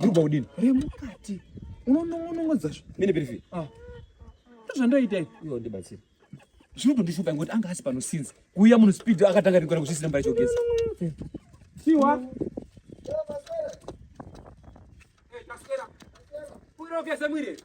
Ndikupa kudini? Remukati. Unonongonongodza zvo. Mine Pirifi. Ah. Ndozvandaita izvi. Iwe ndibatsire. Zvinotondishupa ngoti anga asi pano since. Kuuya munhu speed akatanga ringora kusisina mbaya chogeza. Siwa. Hey, Taskera. Kuira ugeze mwiri.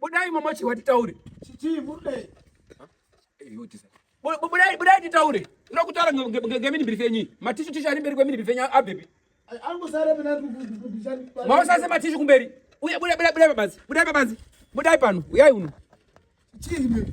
Budai mama chiwa titaure. Chichi murudei. Budai budai titaure. Ndo kutaura ngemini birife yenyi. Matishu tishu ari mberi kwemini birife yenyi abebi. Angosara pena kukukukukuchani. Maosase matishu kumberi. Uya budai budai budai babanzi. Budai babanzi. Budai pano. Uyai uno. Chichi murudei.